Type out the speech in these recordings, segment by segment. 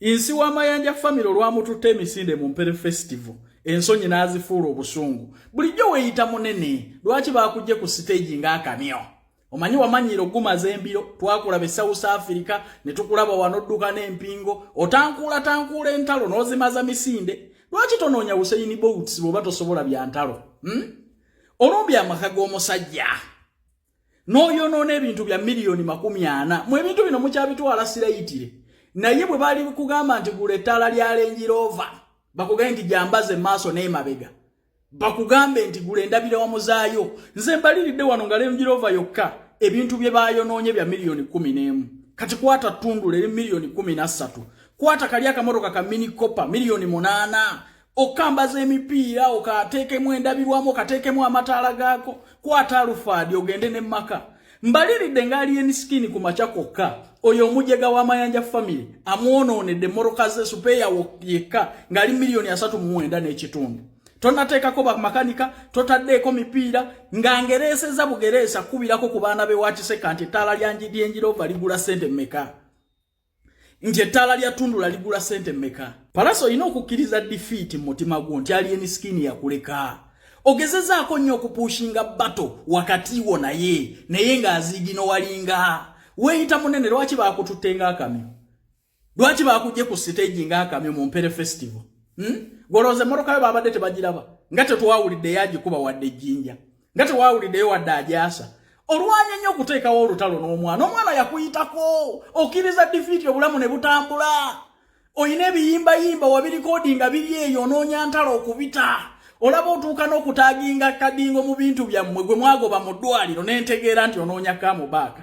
Insi wa Mayanja family olwamututte emisinde mu Mpere Festival ensonyi n'azifuula obusungu bulijjo weeyita munene lwaki baakujje ku siteegi ng'akamyo omanyi wamanyiira okugumaza embiro twakulaba e south africa ne tukulaba wanodduka n'empingo otankuula tankuula entalo n'ozimaza misinde lwaki tonoonya useyini bouts bw'oba tosobola bya ntalo hmm? olumbya amaka g'omusajja n'oyonoona ebintu bya miliyoni makumi ana mu ebintu bino mukyabitwala sirayitire naye bwe bali kugamba nti gula ettaala lya lengiroova bakugambe nti gyambaze maaso n'emabega bakugambe nti gula endabira wamuzaayo nze mbaliridde wano nga lengiroova yokka ebintu bye bayonoonye bya miliyoni kumi n'emu kati kwata ttundula eri miliyoni kumi na ssatu kwata kali akamotoka ka minikopa miliyoni munaana okambaza emipiira okateekemu endabirwamu okateekemu amataala gaako kwata alufaadi ogende ne maka mbaliridde nga alien skin ku makya kwokka oyo omujega wa mayanja family amwonoonedde moroka ze supeeya yekka ng'ali miliyoni asatu mumwenda n'ekitundu tonateekako bamakanika totaddeeko mipiira nga ngereeseza bugereesa kukubirako ku baana be wakiseka nti ettaala lyanjidyenjirova ligula sente meka nti ettaala lya tundula ligula sente meka palasa olina okukkiriza difiiti mu mutima gwo nti ali emisikini yakuleka ogezezaako nnyo okupuushinga bato wakati wo naye naye ng'aziigino walinga weeyita munene lwaki baakututte ng'akamyo lwaki baakujje ku siteegi ng'akamyo mu mpere festival hmm? golooza emmotoka yo baabadde tebagiraba nga tetwawulidde yagikuba wadde ejjinja nga tewawuliddeyo wadde ajaasa olwanya nnyo okuteekawo olutalo n'omwana omwana yakuyitako okkiriza difiiti obulamu ne butambula olina ebiyimbayimba wabirikodi nga biri eyo onoonya ntalo okubita olaba otuuka n'okutaginga kadingo mu bintu byammwe gwe mwagoba mu ddwaliro n'entegeera nti onoonya kamubaaka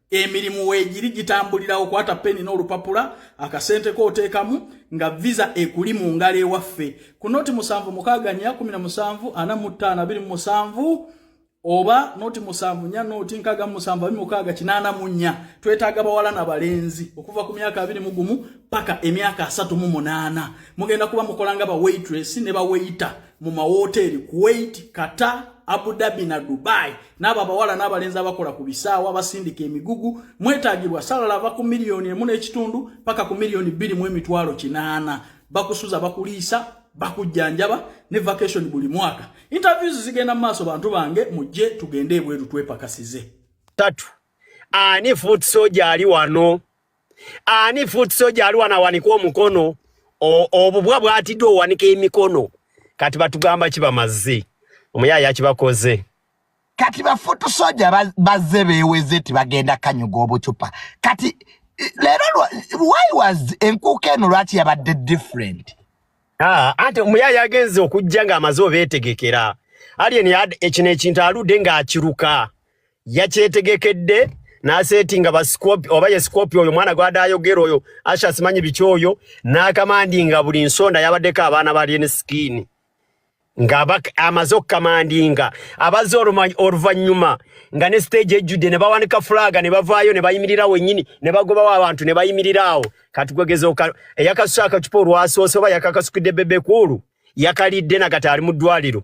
emirimu weegiri gitambulira okwata peni n'olupapula akasente kooteekamu nga visa ekuli mu ngalo ewaffe ku noti musanvu mukaaga nya kumi na musanvu ana mu ttaano abiri mu musanvu oba noti musanvu nya noti nkaaga mu musanvu abiri mukaaga kinaana mu nnya twetaaga bawala na balenzi okuva ku myaka abiri mu gumu paka emyaka asatu mu munaana mugenda kuba mukola nga bawaitress ne baweyita mu mawooteeri kuwait kata abu dhabi na dubai n'abo abawala n'abalenzi abakola ku bisaawa abasindika emigugu mwetaagibwa salala ava ku miliyoni emu n'ekitundu paka ku miliyoni bbiri mu emitwalo kinaana bakusuza bakuliisa bakujjanjaba ne vacation buli mwaka interviews zigenda mu maaso bantu bange mujje tugende ebweru twepakasize tatu ani foot soja ali wano ani foot soja aliwa na waniko omukono obubwa bwatidde owanika emikono kati batugamba kibamazze omuyaye akibakoze kati bafutu soja bazze beweze ti bagenda kanyuga obucupa kati leero why was enkuuka eno lwaki yabadde different ah, ante omuyaye agenze okujja nga amaze obetegekera alien ekino ekintu alude nga akiruka yakyetegekedde nasetinga basikopi oba ye sikopi oyo mwana gwada ayogera oyo asha simanyi biki oyo nakamandinga buli nsonda yabaddeko abaana bali ne skin nga amaze okukamandinga abaze oluvannyuma nga ne stage ejjudde ne bawanika fulaga ne bavaayo ne bayimirira wennyini ne bagobawo abantu ne bayimirira awo kati gwegeza eyakasusa akacupa olwasoose oba yakakasukidde bebekuulu yakalidde nagati ali mu ddwaliro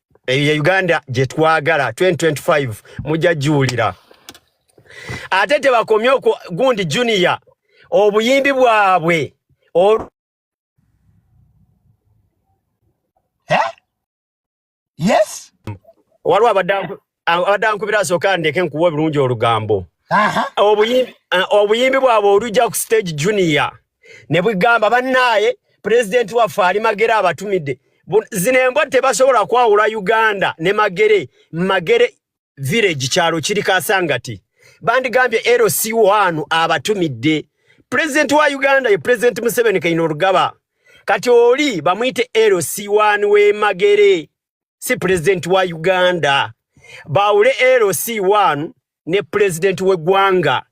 eyo ye uganda gye twagala 2025 mujja giwulira ate tebakomye okwo gundi junior obuyimbi bwabwe ol... eh? yes waliwo abadde abadde ankubira asooka andeke nkuwa obulungi olugambo obuyimbi bwabwe olujja ku stage junior ne bugamba bannaaye pulezidenti waffe ali magere abatumidde zino embwa tebasobola kwawula uganda ne magere magere village kyalo kiri kasangati bandigambye lc wanu abatumidde pulezidenti wa uganda ye pulezidenti museveni kaina olugaba kati oli bamuyite lc wanu wemagere si pulezidenti wa uganda baawule lc 1 ne pulezidenti w'eggwanga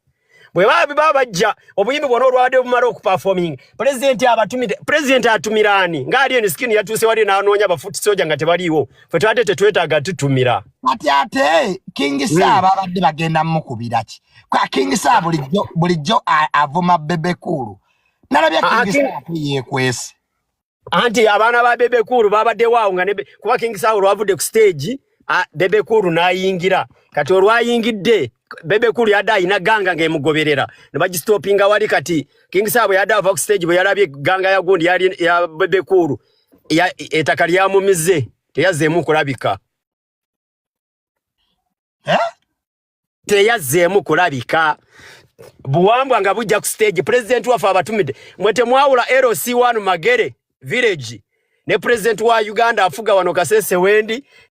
bwe babiba bajja obuyimbi bwona olwabadde bumala okuperforming pulezidenti abatumide pulezidenti atumira ani ng'ali eno sikini yatuuse wali n'anoonya bafuti soja nga tebaliiwo fe twabadde tetwetaaga tutumira kati ate kingi hmm. saaba abadde bagenda mukubira ki kwa kingi saa bulijjo bulijjo avuma bebekuulu nalabye ah, ah, kingi saa yeekwese anti abaana ba bebe kuulu babaddewo awo nga kuba king saha olwavudde ku stage bebe kuulu n'ayingira kati olwayingidde bebe kuulu yadde alina ganga ng'emugoberera ne bagistopinga wali kati king saha bwe yadde ava ku stage bwe yalabye ganga yagundi ya bebe kuulu etaka lyamumize teyazzeemu kulabika eh? teyazzeemu kulabika buwambwa nga bujja ku stage president waffe abatumidde mwe temwawula lc1 magere village ne president wa uganda afuga wano kasese wendi